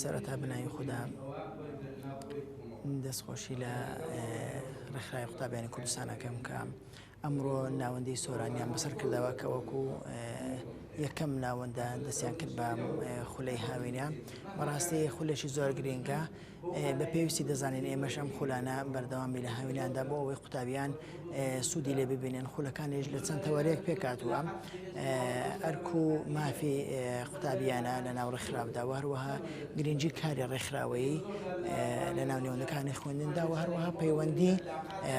سەرەتا بەناوی خودا دەستخۆشی لە ڕێکخراوی قوتابیانی کوردستانەکەم کە ئەمڕۆ ناوەندی سۆرانیان بەسەر کردەوە کە وەکو یەکەم ناوەندە دەستیان کرد بە خولەی هاوینە بەڕاستی خولێکی زۆر گرنگە بە پێویستی دەزانین ئێمەش ئەم خولانە بەردەوامی لە هاویناندا بۆ ئەوەی قوتابیان سوودی لێ ببینن خولەکانیش لە چەند تەوەرێک پێکاتوە ئەرک و مافی قوتابیانە لە ناو ڕێکخراودا و هەروەها گرنگجی کاری ڕێکخراوەیی لە ناو نێوەندەکانی خوێندندا و هەروەها پەیوەندی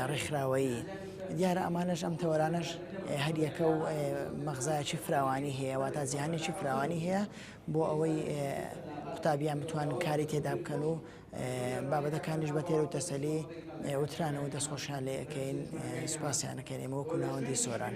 ڕێکخراوەیی دیارە ئەمانەش ئەم تەوەرانەش هەریەکە و مەغزایکی فراوانی هەیە واتا زیانێکی فراوانی هەیە بۆ ئەوەی قوتابیان بتوان کاری تێدا بکەن و بابەتەکانیش بە تێر و تەسەلی وترانەوە دەستخۆشیان لێ ئەەکەین سوپاسیانەکەین ئێمە وەکو ناوەندی سۆران.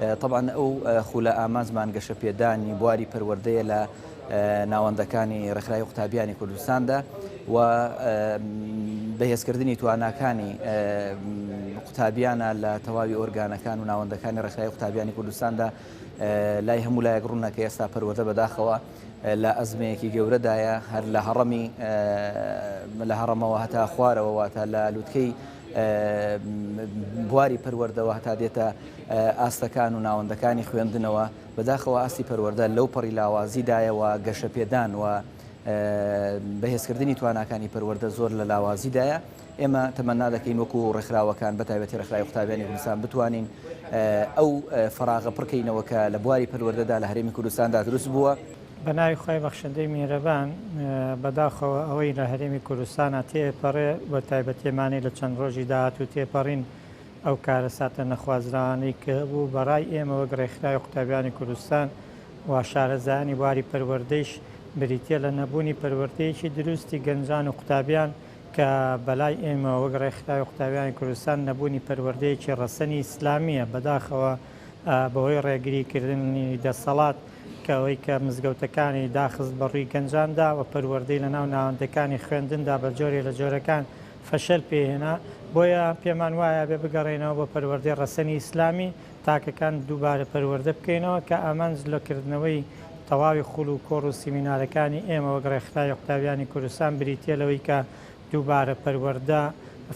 تەبعەن ئەو خولە ئامانجمان گەشەپێدانی بواری پەروەردەیە لە ناوەندەکانی ڕێکخراوی قوتابیانی کوردستاندا و بەهێزکردنی تواناکانی قوتابیانە لە تەواوی ئۆرگانەکان و ناوەندەکانی ڕێکخراوی قوتابیانی کوردستاندا لای هەموو لایەک ڕوونە کە ئێستا پەروەردە بەداخەوە لە ئەزمەیەکی گەورەدایە هەر لە هەڕەمی لە هەڕەمەوە هەتا خوارەوە واتە لە لووتکەی بواری پەروەردەوە هەتا دێتە ئاستەکان و ناوەندەکانی خوێندنەوە بەداخەوە ئاستی پەروەەردە لەو پەڕی لاوازیدایەوە گەشە پێدان و بەهێزکردنی تواناکانی پەروەەردە زۆر لە لاوازیدایە ئێمە تەمەنا دەکەین وەکو و ڕێکخراوەکان بەتاوێتی ڕێکخراوی قوتابیانی کوردستان بتوانین ئەو فراغە پڕکەینەوە کە لە بواری پەروەەردەدا لە هەرێمی کوردستاندا دروست بووە. بە ناوی خوای بەخشندەی میهرەبان. بەداخەوە ئەوەی لە هەرێمی کوردستانا تێئەپەڕێ و تایبەتیەمانی لە چەند ڕۆژی داهاتوو تێپەڕین ئەو کارەساتە نەخوازراوانەی کە هەبوو بە ڕای ئێمە وەک ڕێکخراوی قوتابیانی کوردستان و شارەزایانی بواری پەروەردەیش بریتیە لە نەبوونی پەروەردەیەکی دروستی گەنجان و قوتابیان کە بەلای ئێمە وەک ڕێکخراوی قوتابیانی کوردستان نەبوونی پەروەردەیەکی ڕەسەنی ئیسلامیە بەداخەوە بەهۆی ڕێگری کردنی دەسەڵات کە ئەوەی کە مزگەوتەکانی داخست بە ڕووی گەنجاندا و پەروەردەی لە ناو ناوەندەکانی خوێندندا بە جۆرێ لە جۆرەکان فەشەل پێ هێنا، بۆیە پێمان وایە ئەبێ بگەڕێینەوە بۆ پەروەردەی ڕەسەنی ئیسلامی، تاکەکان دووبارە پەروەردە بکەینەوە، کە ئامانج لە کردنەوەی تەواوی خوول و کۆڕ و سیمینارەکانی ئێمە وەک ڕێکخراوی قوتابیانی کوردستان بریتییە لەوەی کە دووبارە پەروەردە،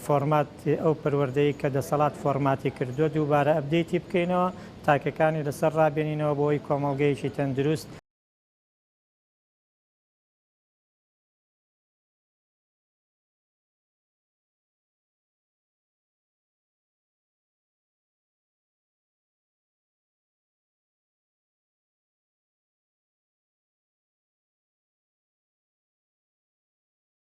فۆرمات، ئەو پەروەردەی کە دەسەڵات فۆرماتی کردووە دووبارە ئەپدەیتی بکەینەوە، تاکەکانی لەسەر ڕابێنینەوە بۆی کۆمەڵگەیەکی تەندروست.